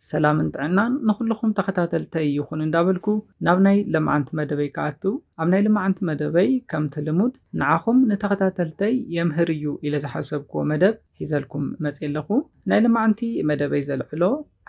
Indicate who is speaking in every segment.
Speaker 1: ሰላምን ጥዕናን ንኹልኹም ተኸታተልተይ ይኹን እንዳበልኩ ናብ ናይ ለማዓንቲ መደበይ ክኣቱ ኣብ ናይ ልማዓንቲ መደበይ ከምቲ ልሙድ ንዓኹም ንተኸታተልተይ የምህር እዩ ኢለ ዝሓሰብክዎ መደብ ሒዘልኩም መፅየ ኣለኹ ናይ ልማዓንቲ መደበይ ዘልዕሎ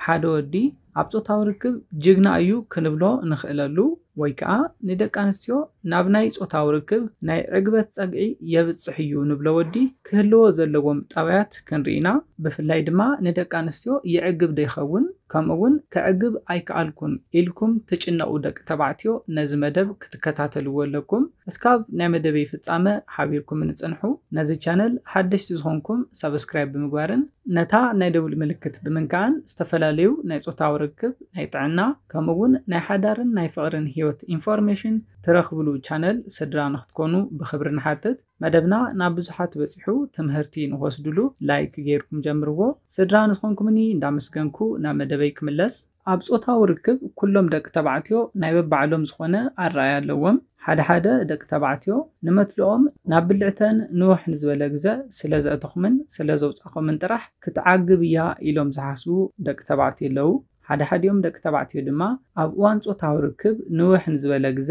Speaker 1: ሓደ ወዲ ኣብ ፆታዊ ርክብ ጅግና እዩ ክንብሎ ንኽእለሉ ወይ ከኣ ንደቂ ኣንስትዮ ናብ ናይ ጾታዊ ርክብ ናይ ዕግበት ጸግዒ የብጽሕ እዩ ንብሎ ወዲ ክህልዎ ዘለዎም ጠባያት ክንርኢ ኢና። ብፍላይ ድማ ንደቂ ኣንስትዮ የዕግብ'ዶ ይኸውን ከምኡ'ውን ከዕግብ ኣይከኣልኩን ኢልኩም ትጭነቑ ደቂ ተባዕትዮ ነዚ መደብ ክትከታተልዎ ኣለኩም። እስካብ ናይ መደበይ ፍጻመ ሓቢርኩምኒ ጽንሑ። ነዚ ቻነል ሓደሽቲ ዝኾንኩም ሳብስክራይብ ብምግባርን ነታ ናይ ደውል ምልክት ብምንካእን ዝተፈላለዩ ናይ ጾታዊ ርክብ፣ ናይ ጥዕና፣ ከምኡ ውን ናይ ሓዳርን ናይ ፍቕርን ህይወት ኢንፎርሜሽን ትረኽብሉ ቻነል ስድራ ንክትኮኑ ብኽብሪ ንሓትት። መደብና ናብ ብዙሓት በጺሑ ትምህርቲ ንክወስድሉ ላይክ ጌርኩም ጀምርዎ። ስድራ ንዝኾንኩምኒ እንዳመስገንኩ ናብ መደበይ ክምለስ። ኣብ ጾታዊ ርክብ ኩሎም ደቂ ተባዕትዮ ናይ በባዕሎም ዝኾነ ኣረኣእያ ኣለዎም። ሓደ ሓደ ደቂ ተባዕትዮ ንመትልኦም ናብ ብልዕተን ንውሕ ንዝበለ ግዘ ስለ ዘእተኹምን ስለ ዘውጻኹምን ጥራሕ ክትዓግብ እያ ኢሎም ዝሓስቡ ደቂ ተባዕትዮ ኣለዉ። ሓድሓዲኦም ደቂ ተባዕትዮ ድማ ኣብ እዋን ጾታዊ ርክብ ንውሕ ንዝበለ ግዘ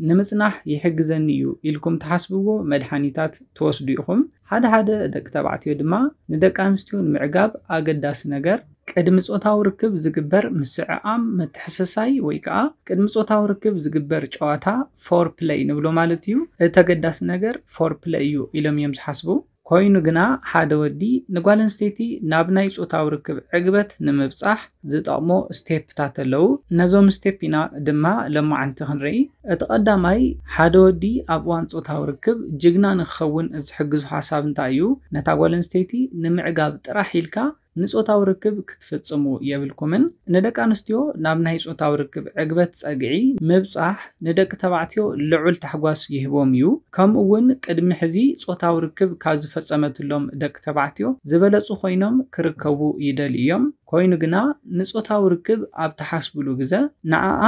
Speaker 1: ንምጽናሕ ይሕግዘኒ እዩ ኢልኩም ትሓስብዎ መድሓኒታት ትወስዱ ኢኹም። ሓደ ሓደ ደቂ ተባዕትዮ ድማ ንደቂ ኣንስትዮ ንምዕጋብ ኣገዳሲ ነገር፣ ቅድሚ ጾታዊ ርክብ ዝግበር ምስዕዓም፣ ምትሕስሳይ፣ ወይ ከኣ ቅድሚ ጾታዊ ርክብ ዝግበር ጨዋታ፣ ፎርፕለይ፣ ንብሎ ማለት እዩ። እቲ ኣገዳሲ ነገር ፎርፕለይ እዩ ኢሎም እዮም ዝሓስቡ። ኮይኑ ግና ሓደ ወዲ ንጓል ኣንስተይቲ ናብ ናይ ጾታዊ ርክብ ዕግበት ንምብጻሕ ዝጠቕሞ ስቴፕታት ኣለዉ። ነዞም ስቴፕ ኢና ድማ ሎማዓንቲ ክንርኢ። እቲ ቀዳማይ ሓደ ወዲ ኣብ እዋን ጾታዊ ርክብ ጅግና ንክኸውን ዝሕግዞ ሓሳብ እንታይ እዩ? ነታ ጓል ኣንስተይቲ ንምዕጋብ ጥራሕ ኢልካ ንጾታዊ ርክብ ክትፍጽሙ የብልኩምን። ንደቂ ኣንስትዮ ናብ ናይ ጾታዊ ርክብ ዕግበት ጸግዒ ምብጻሕ ንደቂ ተባዕትዮ ልዑል ታሕጓስ ይህቦም እዩ፣ ከምኡ'ውን ቅድሚ ሕዚ ጾታዊ ርክብ ካብ ዝፈጸመትሎም ደቂ ተባዕትዮ ዝበለጹ ኮይኖም ክርከቡ ይደልዩ እዮም። ኮይኑ ግና፣ ንጾታዊ ርክብ ኣብ ትሓስቡሉ ግዘ ንዓኣ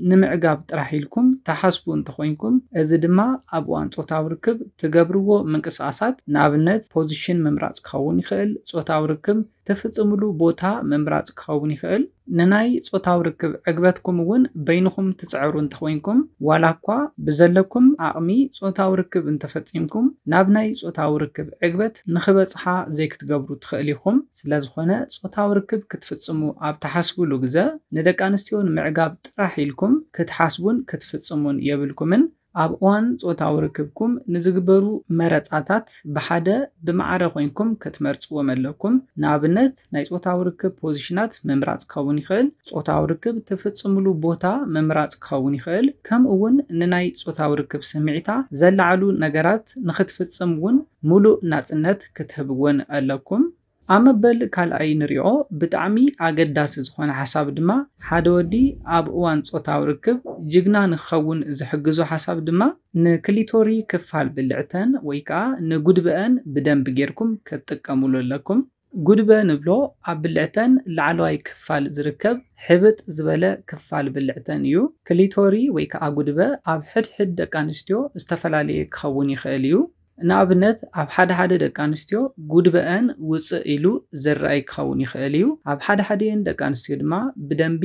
Speaker 1: ንምዕጋብ ጥራሕ ኢልኩም ትሓስቡ እንተኾይንኩም፣ እዚ ድማ ኣብ እዋን ጾታዊ ርክብ ትገብርዎ ምንቅስቓሳት፣ ንኣብነት ፖዚሽን ምምራጽ፣ ክኸውን ይኽእል፣ ጾታዊ ርክብ ትፍጽምሉ ቦታ ምምራጽ ክኸውን ይኽእል፣ ንናይ ጾታዊ ርክብ ዕግበትኩም እውን በይንኹም ትጽዕሩ እንተኾይንኩም፣ ዋላኳ ብዘለኩም ዓቕሚ ጾታዊ ርክብ እንተፈጺምኩም፣ ናብ ናይ ጾታዊ ርክብ ዕግበት ንኽበጽሓ ዘይክትገብሩ ትኽእል ኢኹም። ስለዝኾነ ጾታዊ ርክብ ክትፍጽሙ ኣብ ትሓስቡሉ ግዘ ንደቂ ኣንስትዮ ንምዕጋብ ጥራሕ ኢልኩም ክትሓስቡን ክትፍጽሙን የብልኩምን። ኣብ እዋን ጾታዊ ርክብኩም ንዝግበሩ መረጻታት ብሓደ ብማዕረ ኮይንኩም ክትመርጽዎም ኣለኩም። ንኣብነት ናይ ጾታዊ ርክብ ፖዚሽናት ምምራጽ ክኸውን ይኽእል፣ ጾታዊ ርክብ ትፍጽምሉ ቦታ ምምራጽ ክኸውን ይኽእል፣ ከምኡ'ውን ንናይ ጾታዊ ርክብ ስምዒታ ዘለዓዕሉ ነገራት ንኽትፍጽም እውን ምሉእ ናጽነት ክትህብወን ኣለኩም። ኣብ መበል ካልኣይ ንሪኦ ብጣዕሚ ኣገዳሲ ዝኾነ ሓሳብ ድማ ሓደ ወዲ ኣብ እዋን ፆታዊ ርክብ ጅግና ንክኸውን ዝሕግዞ ሓሳብ ድማ ንክሊቶሪ ክፋል ብልዕተን ወይ ከዓ ንጉድበኣን ብደንቢ ገይርኩም ክትጥቀምሉ ኣለኩም። ጉድበ ንብሎ ኣብ ብልዕተን ላዕለዋይ ክፋል ዝርከብ ሕብጥ ዝበለ ክፋል ብልዕተን እዩ። ክሊቶሪ ወይ ከዓ ጉድበ ኣብ ሕድሕድ ደቂ ኣንስትዮ ዝተፈላለየ ክኸውን ይኽእል እዩ። ንኣብነት ኣብ ሓደ ሓደ ደቂ ኣንስትዮ ጉድበኣን ውጽእ ኢሉ ዝርኣይ ክኸውን ይኽእል እዩ። ኣብ ሓደ ሓዲኤን ደቂ ኣንስትዮ ድማ ብደንቢ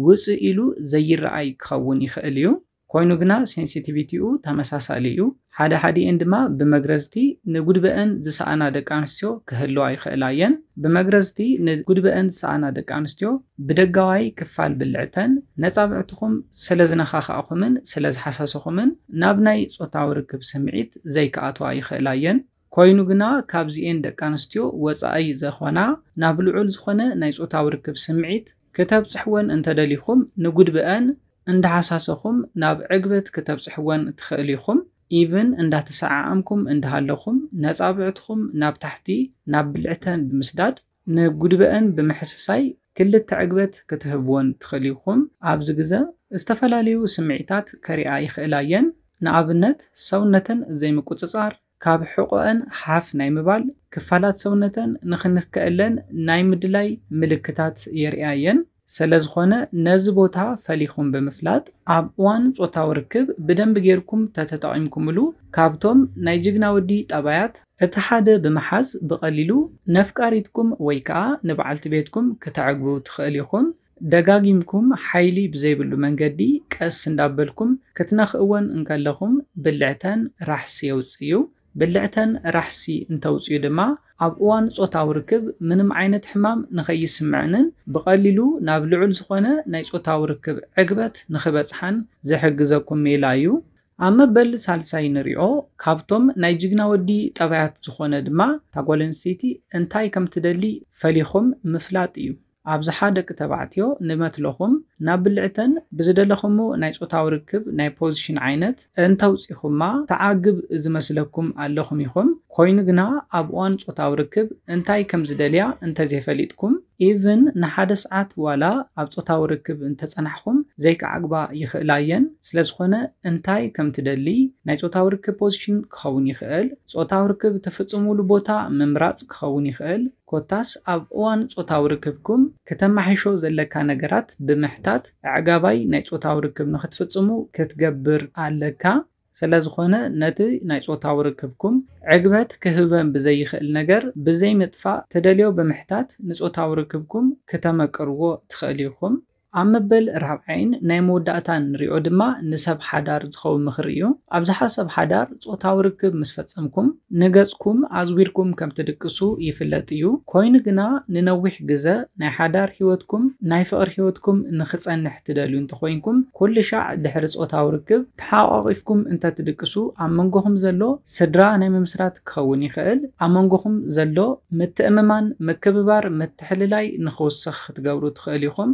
Speaker 1: ውጽእ ኢሉ ዘይርኣይ ክኸውን ይኽእል እዩ። ኮይኑ ግና ሴንሲቲቪቲኡ ተመሳሳሊ እዩ። ሓደ ሓዲኤን ድማ ብመግረዝቲ ንጉድበኣን ዝሰኣና ደቂ ኣንስትዮ ክህልዋ ይኽእላ እየን። ብመግረዝቲ ንጉድበኣን ዝሰኣና ደቂ ኣንስትዮ ብደጋዋይ ክፋል ብልዕተን ነጻብዕትኹም ስለዝነኻኻእኹምን ስለዝሓሰስኹምን ናብ ናይ ጾታዊ ርክብ ስምዒት ዘይክኣትዋ ይኽእላ'የን። ኮይኑ ግና ካብዚኤን ደቂኣንስትዮ ወጻኢ ዘኾና ናብ ልዑል ዝኾነ ናይ ጾታዊ ርክብ ስምዒት ክተብጽሕወን እንተደሊኹም ንጉድበኣን እንዳሓሳሰኹም ናብ ዕግበት ክተብጽሕወን ትኽእል ኢኹም ኢቭን እንዳተሰዓዓምኩም እንዳሃለኹም ነጻብዕትኹም ናብ ታሕቲ ናብ ብልዕተን ብምስዳድ ንጉድበእን ብምሕስሳይ ክልተ ዕግበት ክትህብወን ትኽእሊ ኢኹም። ኣብዚ ግዘ ዝተፈላለዩ ስምዒታት ከሪኣ ይኽእላ እየን። ንኣብነት ሰውነተን ዘይምቁፅፃር፣ ካብ ሕቖኤን ሓፍ ናይ ምባል፣ ክፋላት ሰውነተን ንክንከኤለን ናይ ምድላይ ምልክታት የርእያ እየን። ሰለዝኾነ ነዚ ቦታ ፈሊኹም ብምፍላጥ ኣብ እዋን ጾታዊ ርክብ ብደንቢ ጌርኩም ተተጠቒምኩምሉ ካብቶም ናይ ጅግና ወዲ ጠባያት እቲ ሓደ ብምሓዝ ብቐሊሉ ነፍቃሪትኩም ወይ ከኣ ንበዓልቲ ቤትኩም ክተዕግቡ ትኽእል ኢኹም። ደጋጊምኩም ሓይሊ ብዘይብሉ መንገዲ ቀስ እንዳበልኩም ክትነኽእወን እንከለኹም ብልዕተን ራሕሲ የውጽእ እዩ። ብልዕተን ራሕሲ እንተውጽኡ ድማ ኣብ እዋን ጾታዊ ርክብ ምንም ዓይነት ሕማም ንኸይስምዐንን ብቐሊሉ ናብ ልዑል ዝኾነ ናይ ጾታዊ ርክብ ዕግበት ንኽበጽሓን ዝሕግዘኩም ሜላ እዩ። ኣብ መበል ሳልሳይ ንሪኦ ካብቶም ናይ ጅግና ወዲ ጠባያት ዝኾነ ድማ እታ ጓል ኣንስተይቲ እንታይ ከምትደሊ ፈሊኹም ምፍላጥ እዩ። ኣብዝሓ ደቂ ተባዕትዮ ንመትሎኹም ናብ ብልዕተን ብዝደለኹሞ ናይ ጾታዊ ርክብ ናይ ፖዚሽን ዓይነት እንተውጺኹማ ተዓግብ ዝመስለኩም ኣለኹም ኢኹም ኮይኑ ግና ኣብ እዋን ጾታዊ ርክብ እንታይ ከምዝደልያ እንተዘይፈሊጥኩም even ንሓደ ስዓት ዋላ ኣብ ጾታዊ ርክብ እንተጸናሕኹም ዘይክዓግባ ይኽእላ እየን ስለዝኾነ እንታይ ከምትደሊ ናይ ጾታዊ ርክብ ፖዚሽን ክኸውን ይኽእል ጾታዊ ርክብ ትፍጽሙሉ ቦታ ምምራጽ ክኸውን ይኽእል ኮታስ ኣብ እዋን ጾታዊ ርክብኩም ክተማሕይሾ ዘለካ ነገራት ብምሕታት ኣዕጋባይ ናይ ጾታዊ ርክብ ንኽትፍጽሙ ክትገብር ኣለካ። ሰለዝኾነ ነቲ ናይ ጾታዊ ርክብኩም ዕግበት ክህበም ብዘይኽእል ነገር ብዘይምጥፋእ ትደልዮ ብምሕታት ንጾታዊ ርክብኩም ክተመቅርዎ ትኽእል ኢኹም። ኣብ መበል ራብዓይን ናይ መወዳእታን ንሪኦ ድማ ንሰብ ሓዳር ዝኸውን ምኽሪ እዩ። ኣብዝሓ ሰብ ሓዳር ጾታዊ ርክብ ምስ ፈጸምኩም ንገጽኩም ኣዝዊርኩም ከም ትድቅሱ ይፍለጥ እዩ። ኮይኑ ግና ንነዊሕ ግዘ ናይ ሓዳር ህይወትኩም ናይ ፍቕሪ ህይወትኩም ንክጸንሕ ትደልዩ እንተኾይንኩም ኩልሻዕ ድሕሪ ጾታዊ ርክብ ተሓቛቒፍኩም እንተትድቅሱ ኣብ መንጎኹም ዘሎ ስድራ ናይ ምምስራት ክኸውን ይኽእል፣ ኣብ መንጎኹም ዘሎ ምትእምማን፣ ምክብባር፣ ምትሕልላይ ንኽውስኽ ክትገብሩ ትኽእሉ ኢኹም።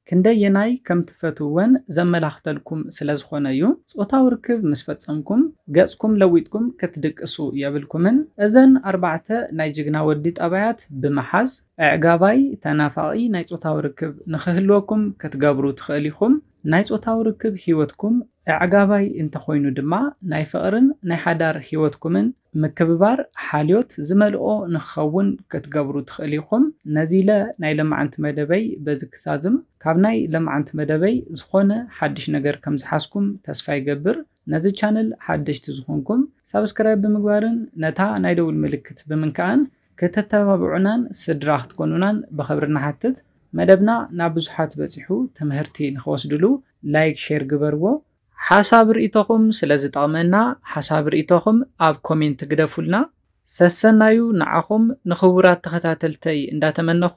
Speaker 1: ክንደየናይ ከም ትፈትውወን ዘመላኽተልኩም ስለ ዝኾነ እዩ። ጾታዊ ርክብ ምስ ፈጸምኩም፣ ገጽኩም ለዊጥኩም ክትድቅሱ የብልኩምን። እዘን ኣርባዕተ ናይ ጅግና ወዲ ጠባያት ብምሓዝ፣ ኣዕጋባይ፣ ተናፋቒ ናይ ጾታዊ ርክብ ንኽህልወኩም ክትገብሩ ትኽእሉ ኢኹም። ናይ ጾታዊ ርክብ ህይወትኩም ኣዕጋባይ እንተኾይኑ ድማ ናይ ፍቕርን ናይ ሓዳር ህይወትኩምን ምክብባር ሓልዮት ዝመልኦ ንክኸውን ክትገብሩ ትኽእሉ ኢኹም። ነዚለ ናይ ለማዓንቲ መደበይ በዚ ክዛዝም። ካብ ናይ ለማዓንቲ መደበይ ዝኾነ ሓድሽ ነገር ከምዝሓዝኩም ተስፋ ይገብር። ነዚ ቻነል ሓደሽቲ ዝኾንኩም ሳብስክራይብ ብምግባርን ነታ ናይ ደውል ምልክት ብምንካእን ከተተባብዑናን ስድራ ክትኮኑናን ብኽብሪ ንሓትት። መደብና ናብ ብዙሓት በጺሑ ትምህርቲ ንኽወስድሉ ላይክ ሼር ግበርዎ። ሓሳብ ርኢቶኹም ስለ ዝጠቕመና ሓሳብ ርኢቶኹም ኣብ ኮሜንት ግደፉልና። ሰሰናዩ ንዓኹም ንኽቡራት ተኸታተልተይ እንዳተመነኹ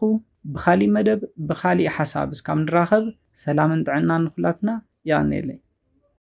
Speaker 1: ብኻሊእ መደብ ብኻሊእ ሓሳብ እስካብ ንራኸብ ሰላምን ጥዕናን ንኹላትና የቐንየለይ።